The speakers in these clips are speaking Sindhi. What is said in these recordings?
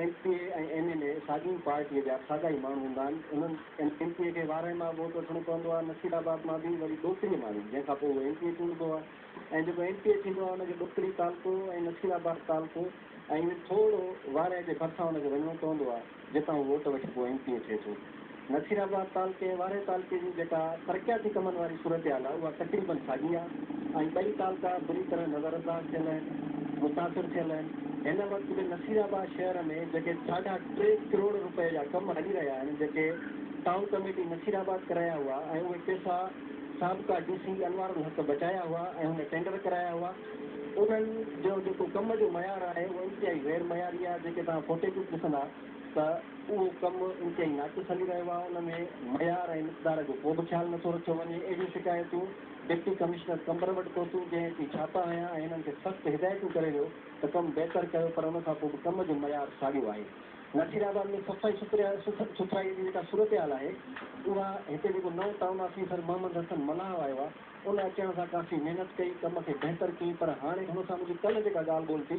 ايم پي اي ۽ ايم اين اي ساڳي ئي پارٽيء جا ساڳا ئي ماڻهو هوندا آهن. انهن ايم پي اي کي وارهه مان ووٽ وٺڻو پوندو آهي، نصير آباد مان به وري ڏوڪري مان ئي، جنهن کان پوء اهو ايم پي اي چونڊبو آهي ۽ جيڪو ايم پي اي ٿيندو آهي ان کي ڏوڪري تعلقو ۽ نصير آباد تعلقو ۽ وري ٿورڙو وارهه جي ڀرسان ان کي وڃڻو پوندو آهي جتان هو ووٽ وٺي پوء ايم پي اي ٿئي ٿو. نصير آباد تعلقي ۽ وارهي تعلقي جي جيڪا ترقياتي ڪمن واري صورتحال آهي اها تقريبن ساڳي آهي ۽ ٻئي تعلقا بري طرح نظر انداز ٿيل آهن متاثر ٿيل آهن هن وقت به نصير آباد شهر ۾ جيڪي ساڍا ٽي ڪروڙ رپئي جا ڪم هلي رهيا آهن جيڪي ٽائون ڪميٽي نصير آباد ڪرايا هئا ۽ اهي پيسا سابقا ڊي سي انوار الحق بچايا هئا ۽ هن ٽينڊر ڪرايا هئا انهن جو جيڪو ڪم جو معيار آهي اهو انتهائي غير معياري آهي جيڪي توهان فوٽيجز ڏسندا ته اهو ڪم انتهائي ناقص هلي رهيو آهي، ان ۾ معيار ۽ مقدار جو ڪو به خيال نٿو رکيو وڃي، اهڙيون شڪايتون ڊپٽي ڪمشنر قمبر وٽ پهتيون، جنهن اتي ڇاپا هنيا ۽ هنن کي سخت هدايتون ڪري ويو ته ڪم بهتر ڪيو پر ان کان پوء به ڪم جو معيار ساڳيو آهي. نصير آباد ۾ صفائي سٿرائي جي جيڪا صورتحال آهي اها هتي جيڪو نئون ٽائون آفيسر محمد حسن ملاح آيو آهي ان اچڻ سان ڪافي محنت ڪئي ڪم کي بهتر ڪيائين پر هاڻي هن سان منهنجي ڪلهه جيڪا ڳالهه ٻولهه ٿي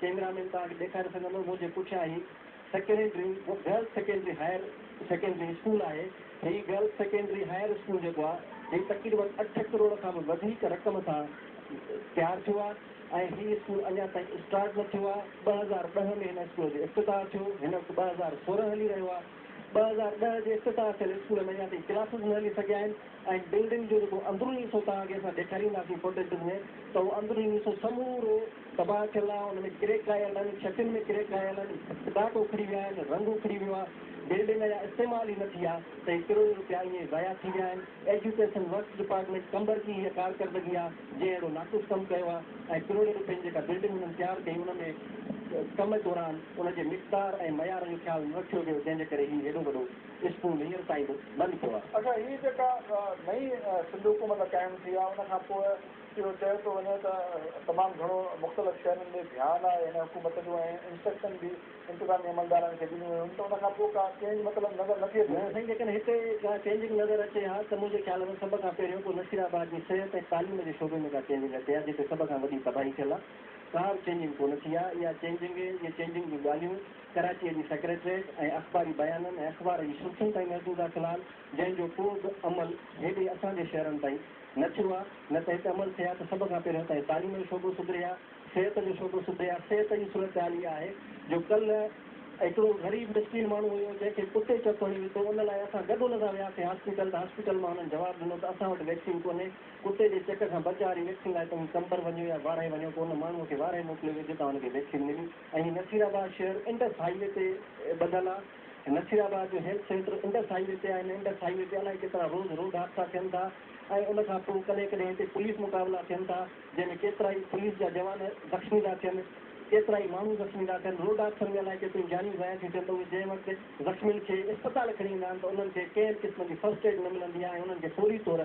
ڪيمرا مين توهان کي ڏيکاري سگهندو منهنجي پٺيان هي secondary girls secondary higher secondary school آهي هي گرلس سيڪنڊري هائر اسڪول جيڪو آ هي تقريبن اٺ ڪروڙ کان به وڌيڪ رقم سان تيار ٿيو آ ۽ هي اسڪول اڃا تائين اسٽارٽ نه ٿيو آ ٻه هزار ڏهه ۾ هن اسڪول جو افتتاح ٿيو هن وقت ٻه هزار سورهن هلي رهيو آ ٻه هزار ڏهه جي افتتاح ٿيل اسڪول ۾ اڃا تائين ڪلاسز نه هلي سگهيا آهن ۽ بلڊنگ جو جيڪو اندروني حصو توهان کي اسان ڏيکارينداسين فوٽيجز ۾ ته اهو اندروني حصو سمورو تباهه ٿيل آهي ان ۾ ڪريڪ آيل آهن ڇتين ۾ ڪريڪ آيل آهن ڪاٽ اکڙي ويا آهن رنگ اکڙي ويو آهي بلڊنگ اڃا استعمال ئي نه ٿي آهي ته هي ڪروڙين روپيا ائين ئي ضايع ٿي ويا آهن ايجوڪيشن ورڪس ڊپارٽمينٽ قمبر جي هيء ڪارڪردگي آهي جنهن اهڙو ناقص ڪم ڪيو آهي ۽ ڪروڙين روپين جي جيڪا بلڊنگ هنن تيار ڪئي ان ۾ ڪم دوران ان جي مقدار ۽ معيار جو خيال نه رکيو ويو جنهن جي ڪري هي هيڏو وڏو اسڪول هينئر تائين به بند پيو آهي. اچا هي جيڪا نئين سنڌ حڪومت قائم ٿي آهي ان کان پوء اهو چئي ٿو وڃي ته تمام گهڻو مختلف شهرن ڏي ڌيان آء اين حڪومت جو ۽ انسٽرڪشن به انتظامي عملدارن کي ڏنيون ويون ته ان کان پوء ڪا چينج مطلب نظر نٿي اچي. سائين جيڪڏهن هتي ڪا چينجنگ نظر اچي ها ته منهنجي خيال ۾ سڀ کان پهريون ڪو نصير آباد جي صحت ۽ تعليم جي شعبي ۾ ڪا چينجنگ اچي ها جتي سڀ کان وڏي تباهي ٿيل آ ڪا به چينجنگ ڪونه ٿي آ اها چينجنگ اهي چينجنگ جون ڳالهيون ڪراچيء جي سيڪريٽريٽ ۽ اخباري بيانن ۽ اخبار جي سرخين تائين محدود آ فلحال جنهن جو ڪو به عمل هيڏي اسان جي شهرن تائين نه ٿيو آ، نه ته هتي عمل ٿئي ها ته سڀ کان پهريون اتان جي تعليم جو شعبو سڌري ها، صحت جو شعبو سڌري ها، صحت جي صورتحال اها آهي جو ڪلهه هڪڙو غريب مسڪين ماڻهو هيو جنهن کي ڪتي چڪ هڻي وڌو ان لاء اسان گڏ ان سان وياسين هاسپيٽل ته هاسپيٽل مان هنن جواب ڏنو ته اسان وٽ ويڪسين ڪونهي ڪتي جي چڪ کان بچاء واري ويڪسين لاء توهين قمبر وڃو يا وارهي وڃو پوء ان ماڻهو کي وارهي موڪليو ويو جتان هن کي ويڪسين ملي ۽ نصير آباد شهر انڊس هاء وي تي ٻڌل آ. نصير آباد جو health centre Indus highway تي آهي ۽ انڊس هاء وي تي الائي ڪيترا روز روڊ حادثا ٿين ٿا ۽ ان کان پوء ڪڏهن ڪڏهن هتي پوليس مقابلا ٿين ٿا جنهن ۾ ڪيترائي پوليس جا جوان زخمي ٿا ٿين ڪيترائي ماڻهو زخمي ٿا ٿين روڊ حادثن ۾ الائي ڪيتريون جانيون ضايع ٿيون ٿين ته اهي جنهن وقت زخمين کي اسپتال کڻي ايندا آهن ته انهن کي ڪنهن به قسم جي فرسٽ ايڊ نه ملندي آهي ۽ انهن کي فوري طور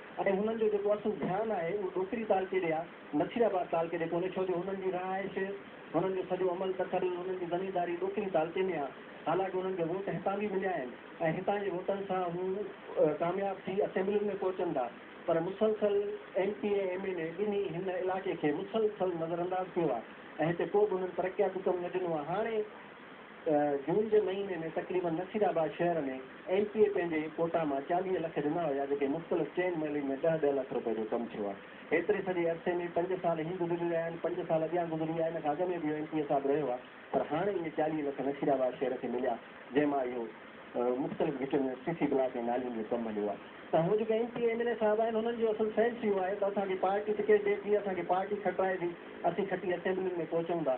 ۽ هنن جو جيڪو اصل ڌيان آهي اهو ڏوڪري تعلقي ڏي يا مڇري آباد تعلقي ڏي ڪونهي ڇو جو هنن جي رهائش، هنن جو سڄو عمل تسلسل، هنن جي زمينداري ڏوڪري تعلقي ۾ آهي. حالانڪ هنن کي ووٽ هتان به مليا آهن ۽ هتان جي ووٽن سان هو ڪامياب ٿي اسيمبلين ۾ پهچن ٿا پر مسلسل M P ۽ M N A ٻنهي هن علائقي کي مسلسل نظرانداز ڪيو آهي ۽ هتي ڪو به هنن ترقياتي ڪم نه ڏنو آهي هاڻي جون جي مهيني ۾ تقريبن نصيرآباد شهر ۾ ايم پي اي پنهنجي ڪوٽا مان چاليهه لک ڏنا هيا جيڪي مختلف چئن محلن ۾ ڏهه ڏهه لک روپئي جو ڪم ٿيو آهي ايتري سڄي عرصي ۾ پنج سال هي گذري رهيا آهن پنج سال اڳيان گذري ويا ان کان اڳ ۾ به اهو ايم پي اي صاحب رهيو آهي پر هاڻي اهي چاليهه لک نصيرآباد شهر کي مليا جنهن مان اهو مختلف گهٽين ۾ سي سي بلاڪ ۽ نالين جو ڪم هليو آهي ته هو جيڪي M P A M L A صاحب آهن هنن جو اصل سينس اهو آهي ته اسان کي پارٽي ٽڪيٽ ڏي جيئن اسان کي پارٽي کٽرائي ٿي اسين کٽي اسيمبلين ۾ پهچون ٿا.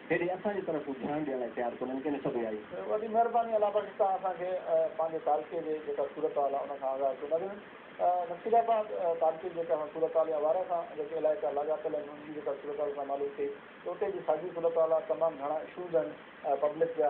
هيڏي اسان جي طرف ڌيان ڏيڻ لاء تيار ڪونهن ڪنهن سڀئي آئي. وڏي مهرباني الله بخش تان اسان کي پنهنجي تعلقي جي جيڪا صورت حال آهي ان کان آگاهه ڪيو نظر نصير آباد تعلقي جي جيڪا اسان صورت حال يا وارهه سان جيڪي علائقا لاڳاپيل آهن انهن جي جيڪا صورت حال اسان کي معلوم ٿي ته اتي جي ساڳي صورت حال آهي تمام گهڻا اشوز آهن پبلڪ جا